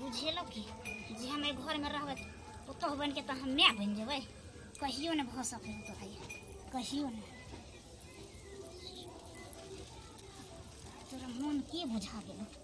बुझेलक कि जे हम एहि घरमे रहबै पुतहु बनि कऽ तऽ हम माय बनि जेबै कहियो नहि भऽ सकलै तोरा कहियो नहि तोरा मोन की बुझा गेलौ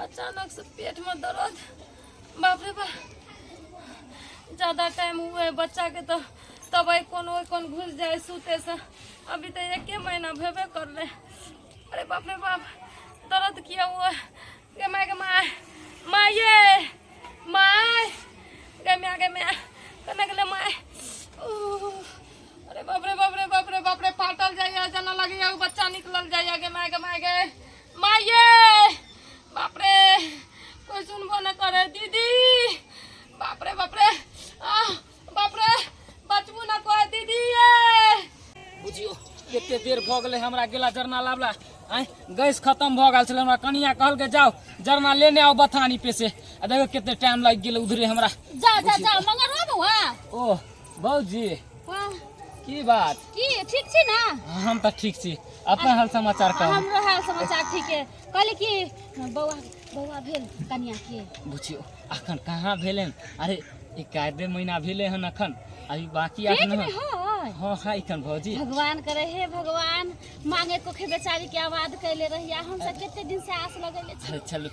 अचानक से पेट में दर्द बाप रे बाप ज्यादा टाइम हुए बच्चा के तो तब आई कौन ओई कौन घुस जाए सूते से अभी तो एक महीना भेबे कर रहे अरे बाप रे बाप दर्द किया हुआ गे माय गे माय माय ये माय गे माय गे माय कने गेले माय ओह अरे बाप रे बाप रे बाप रे बाप रे फाटल जाइया जना लगैया उ बच्चा निकलल जाइया गे माय गे माय गे माये बाप रे कोई सुनबो न करे दीदी बाप रे बाप रे आ बाप रे बचबू न कोई दीदी ये बुझियो कते देर भऽ गेलै हमरा गेला जरना लाबला आँय गैस खतम भऽ गेल छलै हमरा कनिया कहलकै जाओ जरना लेने आओ बथानी पे से आ देखो कते टाइम लागि गेलै उधरे हमरा जा जा जा मंगरवा बउआ ओ बाबूजी वाह, की बात की ठीक छी ना हम तऽ ठीक छी अपन हाल समाचार कहू हमरो हाल समाचार ठीक है कहली कि बौआ बौआ भेल कनिया के बुझियो अखन कहाँ भेलै हन? अरे एकाधे महीना भेलै हन अखन अभी बाकी पेट अखन में हन। है हँ है एखन भौजी भगवान करे हे भगवान मांगे कोखे बेचारी के आवाज कैले रहिया हम सब कते दिन से आस लगैले छी अरे चलू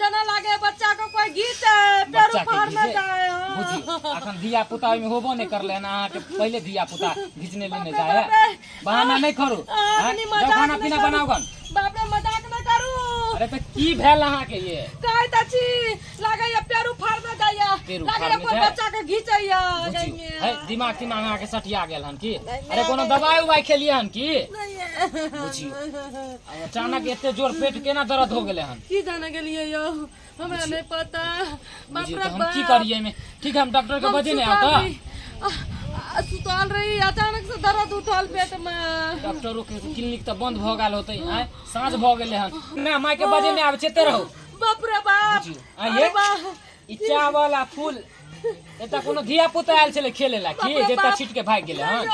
जना लागे बच्चा को कोई गीत है पेड़ बच्चा के उखाड़ में गीत जाए हाँ। बुझी अखन धिया पुता ओहिमे होबो नहि करलै हन अहाँके पहिले धिया पुता घिचने लेने बाप रे, जाय बाप रे। बहाना नहि करू आ, आँय? अपनी जाउ मजाक खाना नहि पीना करू। बनाउ गन बाप रे मजाक न करू अरे तऽ की भेल अहाँके ये कहै त छी लागे या पेड़ उखाड़ में जाइया पेड़ लागे उखाड़ या में कोई जाए। बच्चा के घीचैया बुझी जाइया। है दिमाग तिमाग अहाँके सटिया गेल हन की नहीं, अरे कोनो नहीं। दवाइ उवाइ खेलियै हन की नहीं है। बुझियो। अचानक एते जोर पेट केना दर्द हो गेले हन की जाने गेलिए यो हमरा नहीं पता बाप रे हम की करिए में ठीक है हम डॉक्टर के बजे नहीं आता सुतल रही अचानक से दर्द उठल पेट में डॉक्टर के क्लिनिक तो बंद भ गेल होते हैं साँझ भ गेले हन ना माय के बजे नहीं आवे चेते रहो बाप रे बाप आइए ई चावल आ फूल एता कोनो धिया पुता आयल छले खेले ला की जेता छिट के भाग गेले हन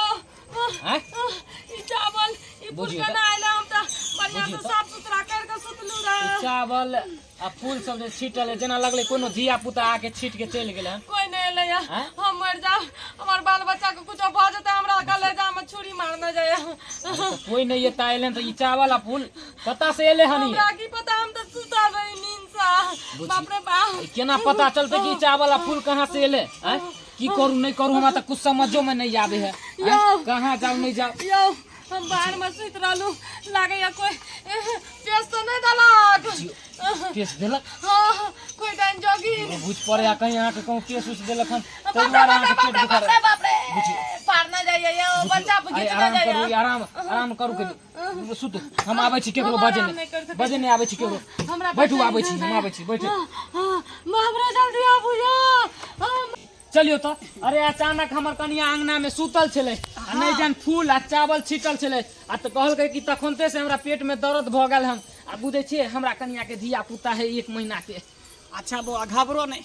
हैं आह, ई चावल ई बुझियौ फुलका तऽ- ना आइला हम तऽ बढ़िया बुझियौ से तऽ- साफ सुथरा कर के सुतलू ई रहे चावल आ फूल सब जे छीटल है, जेना लगले कोनो धिया पुता आके छीट के चलि गेल है कोई नहीं एले या हैं? हम मर जा हमार बाल बच्चा के कुछ भ जते हमरा कलेजा में छुरी मारना जाय तऽ कोई नहीं एता अयलन तऽ ई चावल आ फूल कतऽ से एले हन ई हमरा की पता हम तऽ सुता रही नींद से बुझी। बाप रे बाप ई केना पता चलते कि ई चावल आ फूल कहाँ से एले हैं की करू नहीं करू हमरा तो कुछ समझो में नहीं आवे है आँय, कहाँ जाऊ नहीं जाऊ यौ हम बाहर में सुत रहलू लागे या कोई पेश तो नहीं दलक पेश देलक हाँ कोई डाइन जोगी हमरा बुझ पड़े आ कहीं अहाँके कहूँ पेश उस देलक हन ताहि दुआरे अहाँके पेट दुखा रहल। पार ना जाइए यौ बच्चा अरे बुझित ना आराम करू जाइए आराम आराम करू कनी सुतू हम आबै छी केकरो बजे नहि बजे नहि आबै छी केकरो बैठू आबै छी हम आबै छी बैठू हमरा जल्दी आबू चलियो तो अरे अचानक हमर कनिया अंगना में सुतल छले आ नहीं जान फूल आ चावल छिटल छले आ तो कहल कि तखनते से हमरा पेट में दर्द भ गल हम आ बुझे छे हमरा कनिया के धिया पुता है एक महीना के अच्छा बो घबरो नहीं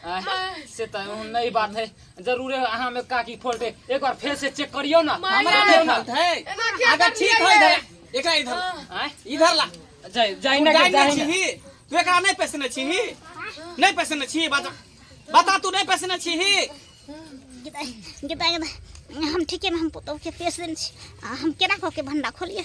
आँय, से त नई बात है जरूरे अहाँ में काकी फोड़ दे एक बार फेर से चेक करियो ना माय हमरा रे। के गलत है एना क्या अगर कर ठीक लिया है ये? इधर एकरा इधर ला। आँय, इधर ला जाई जाई तू ना जान के जाई नहीं ना। छी तू एकरा नहीं पसने छी नहीं पसने छी बता बता तू नहीं पसने छी गीता गीता गीता हम ठीके में हम पुतौह के पेश देने छी आ हम केना कऽ के भंडा खोलिए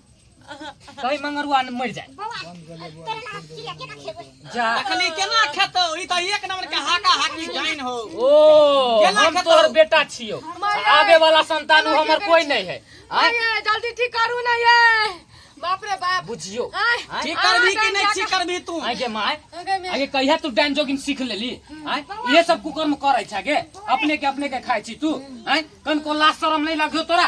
कहीं मंगरुआ ने मर जाए जा देखली केना खेतो ई त एक नंबर के हाका हाकी जाइन हो ओ केना हम खेतो? तोहर बेटा छियो आवे वाला संतान उ हमर कोई नहीं है आय आय, जल्दी ठीक करू ना ये बाप रे बाप बुझियो आय, आय? ठीक करबी कि नहीं ठीक करबी तू आय गे माय आगे में। आगे कहिया तू डांस जोगिन सीख लेली आय ये सब कुकर्म करै छा गे अपने के अपने के खाय छी तू आय कन को लाज शरम नहीं लगियो तोरा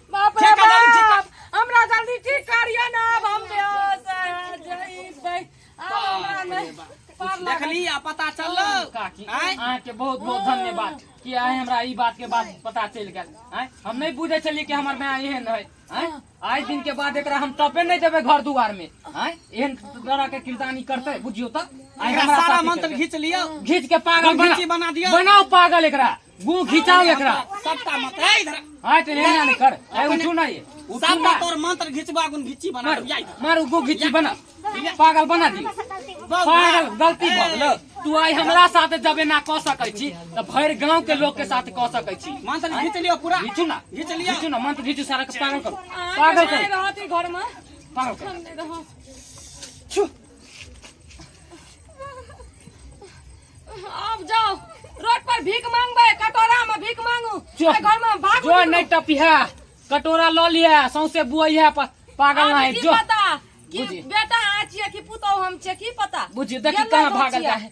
बाप रे ठेका डाली, ठेका। बाप हमरा जल्दी ठीक करियो ना अब हम बेहोश है, जइबै आब हमरा नहीं पार लागल। देखली आ पता चललो काकी आँय? अहाँके बहुत बहुत धन्यवाद कि आइ हमरा ई बात के बात पता चलि गेल आँय? हम नहि बुझै छलियै कि हमर माय एहन है आँय? आइ दिन के बाद एकरा हम टपे नहि देबै घर दुआर में आँय? एहन तरह के किरदानी करतै बुझियो तऽ आइ एकरा हमरा सारा साथी मंत्र करतै। घीच लियो घीच के पागल घीची बना दियौ। बनाओ पागल एकरा गु खिचाओ एकरा सबटा मत ए इधर हां तो लेना नहीं कर ए उठू ना ये उठू सब ना तोर मंत्र घिचबा गुन घिची बना मार जाई मार गु खिची बना पागल बना दी पागल गलती भ गेल तू आई हमरा साथ जबे ना क सकै छी त भर गांव के लोग के साथ क सकै छी मंत्र घिच लियो पूरा घिचू ना घिच लियो घिचू ना मंत्र घिचू सारा के पागल करू पागल करू रहती घर में पागल करू हम नहीं रहब छु अब जाओ रोड पर भीख मांगबे कटोरा में भीख मांगू जो। आ घर में भाग जो नहीं टपिहा कटोरा लऽ लिहे सौंसे बुआइहे प- पागल अब नहीं की जो पता कि बुझी। बेटा आ छिए कि पुतौ हम छिए की पता बुझी देखी गेलै कहाँ गो भागल छिए। जाए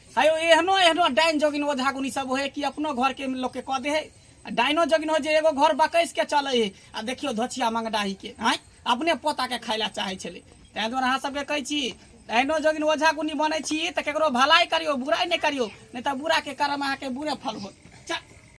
है एहनो एहनो डाइन जोगिन ओझा गुनी सब है कि अपनो घर के लोग के कह दे है डाइनो जोगिन हो जे एगो घर बकैस के चले है आ देखियो धोछिया मंगडाही के हैं अपने पोता के खाय ला चाहे छे तै द्वारा अहाँ सबके कहै छी डाइनो जोगिन ओझा गुनी बने छी तो ककरो भलाई करियो बुराई नहीं करियो नहीं तो बुरा के कर्म अहाँ के बुरे फल होत